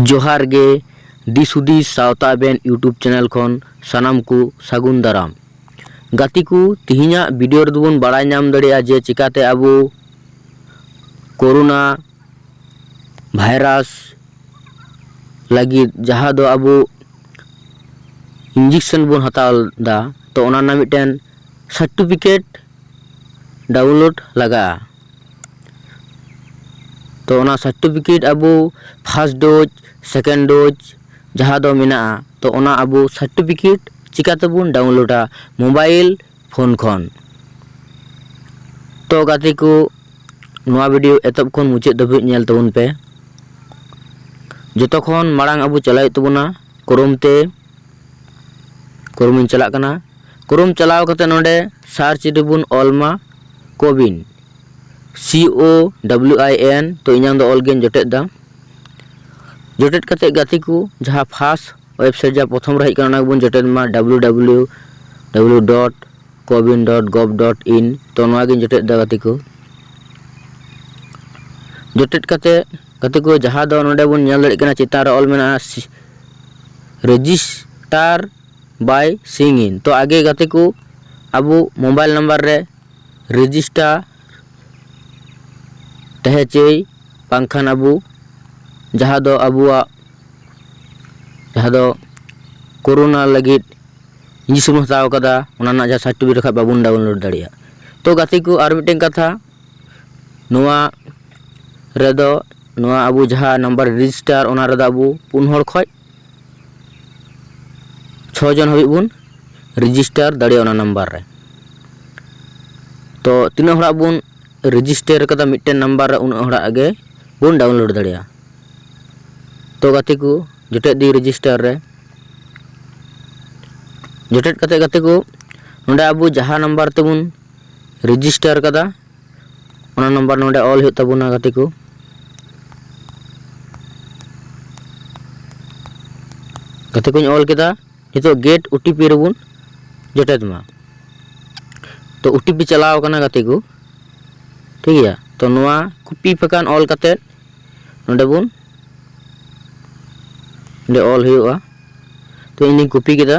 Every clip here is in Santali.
ᱡᱚᱦᱟᱨ ᱜᱮ ᱫᱤᱥ ᱦᱩᱫᱤᱥ ᱥᱟᱶᱛᱟ ᱵᱮᱱ ᱤᱭᱩᱴᱩᱵᱽ ᱪᱮᱱᱮᱞ ᱠᱷᱚᱱ ᱥᱟᱱᱟᱢ ᱠᱚ ᱥᱟᱹᱜᱩᱱ ᱫᱟᱨᱟᱢ ᱜᱟᱛᱮ ᱠᱚ ᱛᱮᱦᱮᱧᱟᱜ ᱵᱷᱤᱰᱤᱭᱳ ᱨᱮᱫᱚ ᱵᱚᱱ ᱵᱟᱲᱟᱭ ᱧᱟᱢ ᱫᱟᱲᱮᱭᱟᱜᱼᱟ ᱡᱮ ᱪᱤᱠᱟᱛᱮ ᱟᱵᱚ ᱠᱳᱨᱳᱱᱟ ᱵᱷᱟᱭᱨᱟᱥ ᱞᱟᱹᱜᱤᱫ ᱡᱟᱦᱟᱸ ᱫᱚ ᱟᱵᱚ ᱤᱧᱡᱮᱠᱥᱮᱱ ᱵᱚᱱ ᱦᱟᱛᱟᱣ ᱮᱫᱟ ᱛᱚ ᱚᱱᱟ ᱨᱮᱱᱟᱜ ᱢᱤᱫᱴᱮᱱ ᱥᱟᱨᱴᱤᱯᱷᱤᱠᱮᱴ ᱰᱟᱣᱩᱱᱞᱳᱰ ᱞᱟᱜᱟᱜᱼᱟ ᱛᱚ ᱚᱱᱟ ᱥᱟᱨᱴᱤᱯᱷᱤᱠᱮᱴ ᱟᱵᱚ ᱯᱷᱟᱥᱴ ᱰᱳᱡᱽ ᱥᱮᱠᱮᱱᱰ ᱰᱳᱡᱽ ᱡᱟᱦᱟᱸ ᱫᱚ ᱢᱮᱱᱟᱜᱼᱟ ᱛᱚ ᱚᱱᱟ ᱟᱵᱚ ᱥᱟᱨᱴᱤᱯᱷᱤᱠᱮᱴ ᱪᱤᱠᱟᱹ ᱛᱮᱵᱚᱱ ᱰᱟᱣᱩᱱᱞᱳᱰᱟ ᱢᱳᱵᱟᱭᱤᱞ ᱯᱷᱳᱱ ᱠᱷᱚᱱ ᱛᱚ ᱜᱟᱛᱮ ᱠᱚ ᱱᱚᱣᱟ ᱵᱷᱤᱰᱤᱭᱳ ᱮᱛᱚᱦᱚᱵ ᱠᱷᱚᱱ ᱢᱩᱪᱟᱹᱫ ᱫᱷᱟᱹᱵᱤᱡ ᱧᱮᱞ ᱛᱟᱵᱚᱱ ᱯᱮ ᱡᱚᱛᱚ ᱠᱷᱚᱱ ᱢᱟᱲᱟᱝ ᱟᱵᱚ ᱪᱟᱞᱟᱜ ᱦᱩᱭᱩᱜ ᱛᱟᱵᱚᱱᱟ ᱠᱨᱳᱢ ᱛᱮ ᱠᱨᱳᱢᱤᱧ ᱪᱟᱞᱟᱜ ᱠᱟᱱᱟ ᱠᱨᱳᱢ ᱪᱟᱞᱟᱣ ᱠᱟᱛᱮ ᱱᱚᱰᱮ ᱥᱟᱨᱪ ᱨᱮᱵᱚᱱ ᱚᱞ ᱢᱟ ᱠᱳᱵᱤᱱ ᱥᱤ ᱳ ᱰᱟᱵᱞᱤᱭᱩ ᱟᱭ ᱮᱱ ᱛᱚ ᱤᱧᱟᱹᱝ ᱫᱚ ᱚᱞ ᱜᱤᱧ ᱡᱚᱴᱮᱫ ᱮᱫᱟ ᱡᱚᱴᱮᱫ ᱠᱟᱛᱮ ᱜᱟᱛᱮ ᱠᱚ ᱡᱟᱦᱟᱸ ᱯᱷᱟᱥ ᱳᱭᱮᱵᱽᱥᱟᱭᱤᱴ ᱡᱟᱦᱟᱸ ᱯᱨᱚᱛᱷᱚᱢ ᱨᱮ ᱦᱮᱡ ᱟᱠᱟᱱᱟ ᱚᱱᱟ ᱜᱮᱵᱚᱱ ᱡᱚᱴᱮᱫ ᱢᱟ ᱰᱟᱵᱽᱞᱤᱭᱩ ᱰᱟᱵᱽᱞᱤᱭᱩ ᱰᱟᱵᱽᱞᱤᱭᱩ ᱰᱚᱴ ᱠᱳᱵᱤᱱ ᱰᱚᱴ ᱜᱚᱵᱷ ᱰᱚᱴ ᱤᱱ ᱛᱚ ᱱᱚᱣᱟᱜᱤᱧ ᱡᱚᱴᱮᱫ ᱮᱫᱟ ᱜᱟᱛᱮ ᱠᱚ ᱡᱚᱴᱮᱫ ᱠᱟᱛᱮ ᱜᱟᱛᱮ ᱠᱚ ᱡᱟᱦᱟᱸ ᱫᱚ ᱱᱚᱰᱮ ᱵᱚᱱ ᱧᱮᱞ ᱫᱟᱲᱮᱭᱟᱜ ᱠᱟᱱᱟ ᱪᱮᱛᱟᱱ ᱨᱮ ᱚᱞ ᱢᱮᱱᱟᱜᱼᱟ ᱨᱮᱡᱤᱥᱴᱟᱨ ᱵᱟᱭ ᱥᱤᱝ ᱤᱱ ᱛᱚ ᱟᱜᱮ ᱜᱟᱛᱮ ᱠᱚ ᱟᱵᱚ ᱢᱳᱵᱟᱭᱤᱞ ᱱᱟᱢᱵᱟᱨ ᱨᱮ ᱨᱮᱡᱤᱥᱴᱟᱨ ᱛᱟᱦᱮᱸ ᱪᱟᱹᱭ ᱵᱟᱝᱠᱷᱟᱱ ᱟᱵᱚ ᱡᱟᱦᱟᱸ ᱫᱚ ᱟᱵᱚᱣᱟᱜ ᱡᱟᱦᱟᱸ ᱫᱚ ᱠᱳᱨᱳᱱᱟ ᱞᱟᱹᱜᱤᱫ ᱤᱧᱡᱮᱠᱥᱚᱱ ᱵᱚᱱ ᱦᱟᱛᱟᱣ ᱠᱟᱫᱟ ᱚᱱᱟ ᱨᱮᱱᱟᱜ ᱡᱟᱦᱟᱸ ᱥᱟᱨᱴᱤᱯᱷᱤᱠᱮᱴ ᱵᱟᱠᱷᱟᱡ ᱵᱟᱵᱚᱱ ᱰᱟᱣᱩᱱᱞᱳᱰ ᱫᱟᱲᱮᱭᱟᱜᱼᱟ ᱛᱚ ᱜᱟᱛᱮ ᱠᱚ ᱟᱨ ᱢᱤᱫᱴᱮᱱ ᱠᱟᱛᱷᱟ ᱱᱚᱣᱟ ᱨᱮᱫᱚ ᱱᱚᱣᱟ ᱟᱵᱚ ᱡᱟᱦᱟᱸ ᱱᱟᱢᱵᱟᱨ ᱨᱮᱡᱤᱥᱴᱟᱨ ᱚᱱᱟ ᱨᱮᱫᱚ ᱟᱵᱚ ᱯᱩᱱ ᱦᱚᱲ ᱠᱷᱚᱡ ᱪᱷᱚ ᱡᱚᱱ ᱦᱟᱹᱵᱤᱡ ᱵᱚᱱ ᱨᱮᱡᱤᱥᱴᱟᱨ ᱫᱟᱲᱮᱭᱟᱜᱼᱟ ᱚᱱᱟ ᱱᱟᱢᱵᱟᱨ ᱨᱮ ᱛᱚ ᱛᱤᱱᱟᱹᱜ ᱦᱚᱲᱟᱜ ᱵᱚᱱ ᱨᱮᱡᱤᱥᱴᱟᱨ ᱠᱟᱫᱟ ᱢᱤᱫᱴᱮᱱ ᱱᱟᱢᱵᱟᱨ ᱨᱮ ᱩᱱᱟᱹᱜ ᱦᱚᱲᱟᱜ ᱜᱮ ᱵᱚᱱ ᱰᱟᱣᱩᱱᱞᱳᱰ ᱫᱟᱲᱮᱭᱟᱜᱼᱟ ᱛᱚ ᱜᱟᱛᱮ ᱠᱚ ᱡᱚᱴᱮᱫ ᱫᱤᱧ ᱨᱮᱡᱤᱥᱴᱟᱨ ᱨᱮ ᱡᱚᱴᱮᱫ ᱠᱟᱛᱮᱫ ᱜᱟᱛᱮ ᱠᱚ ᱱᱚᱸᱰᱮ ᱟᱵᱚ ᱡᱟᱦᱟᱸ ᱱᱟᱢᱵᱟᱨ ᱛᱮᱵᱚᱱ ᱨᱮᱡᱤᱥᱴᱟᱨ ᱠᱟᱫᱟ ᱚᱱᱟ ᱱᱟᱢᱵᱟᱨ ᱱᱚᱰᱮ ᱚᱞ ᱦᱩᱭᱩᱜ ᱛᱟᱵᱚᱱᱟ ᱜᱟᱛᱮ ᱠᱚ ᱜᱟᱛᱮ ᱠᱚᱧ ᱚᱞ ᱠᱮᱫᱟ ᱱᱤᱛᱚᱜ ᱜᱮᱴ ᱳᱴᱤᱯᱤ ᱨᱮᱵᱚᱱ ᱡᱚᱴᱮᱫ ᱢᱟ ᱛᱚ ᱳᱴᱤᱯᱤ ᱪᱟᱞᱟᱣ ᱠᱟᱱᱟ ᱜᱟᱛᱮ ᱠᱚ ᱴᱷᱤᱠ ᱜᱮᱭᱟ ᱛᱚ ᱱᱚᱣᱟ ᱠᱚᱯᱤ ᱯᱷᱟᱠᱟᱱ ᱚᱞ ᱠᱟᱛᱮ ᱱᱚᱰᱮ ᱵᱚᱱ ᱱᱚᱰᱮ ᱚᱞ ᱦᱩᱭᱩᱜᱼᱟ ᱛᱚ ᱤᱧᱤᱧ ᱠᱚᱯᱤ ᱠᱮᱫᱟ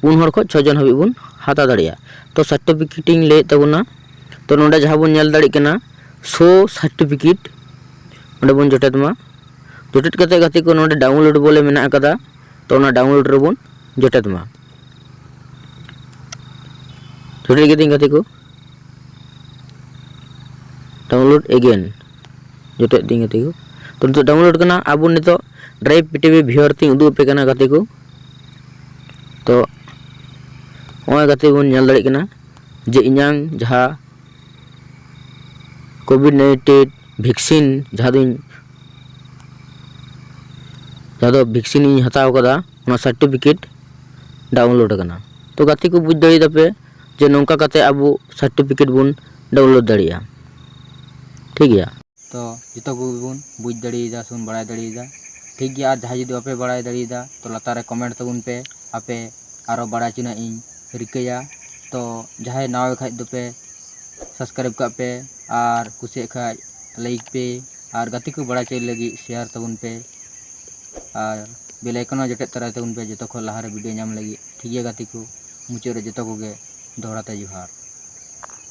ᱯᱩᱱ ᱦᱚᱲ ᱠᱷᱚᱱ ᱪᱷᱚ ᱡᱚᱱ ᱦᱟᱹᱵᱤᱡ ᱵᱚᱱ ᱦᱟᱛᱟᱣ ᱫᱟᱲᱮᱭᱟᱜᱼᱟ ᱛᱚ ᱥᱟᱨᱴᱤᱯᱷᱤᱠᱮᱴ ᱤᱧ ᱞᱟᱹᱭᱮᱫ ᱛᱟᱵᱚᱱᱟ ᱛᱚ ᱱᱚᱰᱮ ᱡᱟᱦᱟᱸ ᱵᱚᱱ ᱧᱮᱞ ᱫᱟᱲᱮᱭᱟᱜ ᱠᱟᱱᱟ ᱥᱳ ᱥᱟᱨᱴᱤᱯᱷᱤᱠᱮᱴ ᱚᱸᱰᱮ ᱵᱚᱱ ᱡᱚᱴᱮᱫ ᱢᱟ ᱡᱚᱴᱮᱫ ᱠᱟᱛᱮᱫ ᱜᱟᱛᱮ ᱠᱚ ᱱᱚᱰᱮ ᱰᱟᱣᱩᱱᱞᱳᱰ ᱵᱚᱞᱮ ᱢᱮᱱᱟᱜ ᱟᱠᱟᱫᱟ ᱛᱚ ᱚᱱᱟ ᱰᱟᱣᱩᱱᱞᱳᱰ ᱨᱮᱵᱚᱱ ᱡᱚᱴᱮᱫ ᱢᱟ ᱡᱚᱴᱮᱫ ᱠᱤᱫᱟᱹᱧ ᱜᱟᱛᱮ ᱠᱚ ᱰᱟᱣᱩᱱᱞᱳᱰ ᱮᱜᱮᱱ ᱡᱚᱴᱮᱫ ᱫᱤᱧ ᱜᱟᱛᱮ ᱠᱚ ᱛᱚ ᱱᱤᱛᱚᱜ ᱰᱟᱣᱩᱱᱞᱳᱰ ᱠᱟᱱᱟ ᱟᱵᱚ ᱱᱤᱛᱚᱜ ᱰᱨᱟᱭᱤᱵᱷ ᱯᱤᱴᱤᱵᱷᱤ ᱵᱷᱤᱭᱚᱨ ᱛᱤᱧ ᱩᱫᱩᱜ ᱟᱯᱮ ᱠᱟᱱᱟ ᱜᱟᱛᱮ ᱠᱚ ᱛᱚ ᱱᱚᱜᱼᱚᱭ ᱜᱟᱛᱮ ᱵᱚᱱ ᱧᱮᱞ ᱫᱟᱲᱮᱭᱟᱜ ᱠᱟᱱᱟ ᱡᱮ ᱤᱧᱟᱝ ᱡᱟᱦᱟᱸ ᱠᱳᱵᱷᱤᱰ ᱱᱟᱭᱤᱱᱴᱤᱱ ᱵᱷᱮᱠᱥᱤᱱ ᱡᱟᱦᱟᱸ ᱫᱚᱧ ᱡᱟᱦᱟᱸ ᱫᱚ ᱵᱷᱮᱠᱥᱤᱱ ᱤᱧ ᱦᱟᱛᱟᱣ ᱠᱟᱫᱟ ᱚᱱᱟ ᱥᱟᱨᱴᱤᱯᱷᱤᱠᱮᱴ ᱰᱟᱣᱩᱱᱞᱳᱰ ᱟᱠᱟᱱᱟ ᱛᱚ ᱜᱟᱛᱮ ᱠᱚ ᱵᱩᱡᱽ ᱫᱟᱲᱮᱭᱟᱫᱟᱯᱮ ᱡᱮ ᱱᱚᱝᱠᱟ ᱠᱟᱛᱮ ᱟᱵᱚ ᱥᱟᱨᱴᱤᱯᱷᱤᱠᱮᱴ ᱵᱚᱱ ᱰᱟᱣᱩᱱᱞᱳᱰ ᱫᱟᱲᱮᱭᱟᱜᱼᱟ ᱴᱷᱤᱠ ᱜᱮᱭᱟ᱾ ᱛᱚ ᱡᱚᱛᱚ ᱠᱚᱜᱮ ᱵᱚᱱ ᱵᱩᱡᱽ ᱫᱟᱲᱮᱭᱟᱫᱟ ᱥᱮᱵᱚᱱ ᱵᱟᱲᱟᱭ ᱫᱟᱲᱮᱭᱟᱫᱟ᱾ ᱴᱷᱤᱠ ᱜᱮᱭᱟ ᱟᱨ ᱡᱟᱦᱟᱸᱭ ᱡᱩᱫᱤ ᱵᱟᱯᱮ ᱵᱟᱲᱟᱭ ᱫᱟᱲᱮᱭᱟᱫᱟ ᱛᱚ ᱞᱟᱛᱟᱨ ᱨᱮ ᱠᱚᱢᱮᱱᱴ ᱛᱟᱵᱚᱱ ᱯᱮ ᱟᱯᱮ ᱟᱨᱚ ᱵᱟᱲᱟᱭ ᱦᱚᱪᱚ ᱨᱮᱱᱟᱜ ᱤᱧ ᱨᱤᱠᱟᱹᱭᱟ᱾ ᱛᱚ ᱡᱟᱦᱟᱸᱭ ᱱᱟᱣᱟ ᱜᱮ ᱠᱷᱟᱡ ᱫᱚᱯᱮ ᱥᱟᱵᱥᱠᱨᱟᱭᱤᱵᱽ ᱠᱟᱜ ᱯᱮ ᱟᱨ ᱠᱩᱥᱤᱭᱟᱜ ᱠᱷᱟᱡ ᱞᱟᱭᱤᱠ ᱯᱮ ᱟᱨ ᱜᱟᱛᱮ ᱠᱚ ᱵᱟᱲᱟᱭ ᱦᱚᱪᱚᱭ ᱞᱟᱹᱜᱤᱫ ᱥᱮᱭᱟᱨ ᱛᱟᱵᱚᱱ ᱯᱮ ᱟᱨ ᱵᱮᱞ ᱟᱭᱠᱚᱱ ᱦᱚᱸ ᱡᱚᱴᱮᱫ ᱛᱚᱨᱟᱭ ᱛᱟᱵᱚᱱ ᱯᱮ ᱡᱚᱛᱚ ᱠᱷᱚᱡ ᱞᱟᱦᱟᱨᱮ ᱵᱷᱤᱰᱤᱭᱳ ᱧᱟᱢ ᱞᱟᱹᱜᱤᱫ᱾ ᱴᱷᱤᱠ ᱜᱮᱭᱟ ᱜᱟᱛᱮ ᱠᱚ ᱢᱩᱪᱟᱹᱫ ᱨᱮ ᱡᱚᱛᱚ ᱠᱚᱜᱮ ᱫᱚᱦᱲᱟ ᱛᱮ ᱡᱚᱦᱟᱨ᱾